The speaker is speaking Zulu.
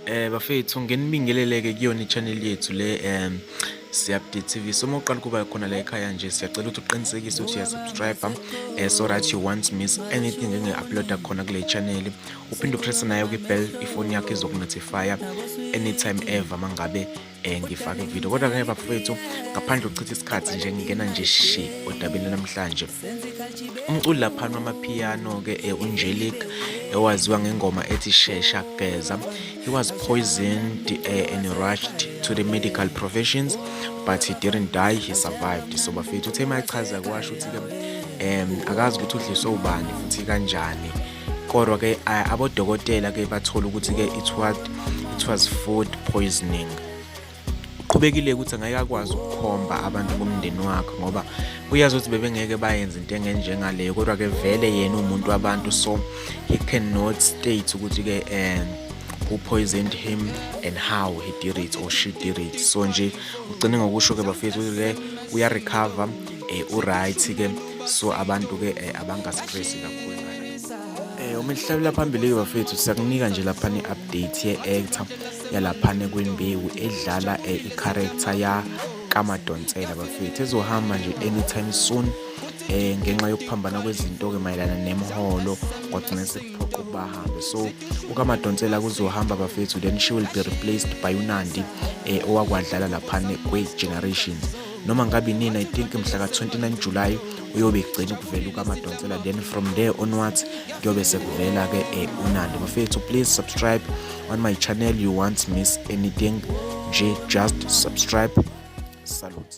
Eh bafethu ngenibingeleleke kuyona i-channel yethu le um Siyabde TV so uma uqala ukuba khona la ekhaya nje siyacela ukuthi uqinisekise ukuthi uyasubscribe um eh, so that you won't miss anything engi-uploada khona kule channel uphinde upresse nayo kwi-bell ifoni yakho izokunotifya anytime ever mangabe eh ngifake ivideo kodwa ke bafowethu ngaphandle ukuchitha isikhathi nje ngingena nje shi odabeni namhlanje umculi laphana wamapiano ke eh, unjelik ewaziwa ngengoma ethi shesha geza he was poisoned eh, and rushed to the medical professions but he didn't die he survived so bafethu uthe mayachaza kwasho ukuthi ke um akazi ukuthi udliswe ubani futhi kanjani kodwa ke abodokotela ke bathola ukuthi ke it was it was food poisoning uqhubekile ukuthi angeke akwazi ukukhomba abantu bomndeni wakhe ngoba uyazi ukuthi bebengeke bayenze into engenjengaleyo kodwa ke vele yena umuntu wabantu so he cannot state ukuthi ke um who poisoned him and how he did it or she did it so nje ugcine ngokusho ke bafethu ukuthi ke uyarecover eh uright ke so abantu ke eh, abangastress kakhulu eh uma lihlabela phambili ke bafethu siyakunika nje lapha ni update ye actor yalapha ne Queen Bewu edlala eh, i character ya kaMadonsela bafethu ezohamba nje anytime soon eh ngenxa yokuphambana kwezinto ke mayelana nemholo kwagcina sekuphoqa ukuba ahambe so ukamadonsela kuzohamba bafethu then she will be replaced by unandi eh owakwadlala laphane kwe-generations noma ngabe nini i think mhla ka 29 July uyobe egcina ukuvela ukaMadonsela then from there onwards kuyobe sekuvela ke eh, uNandi bafethu please subscribe on my channel you won't miss anything nje just subscribe salute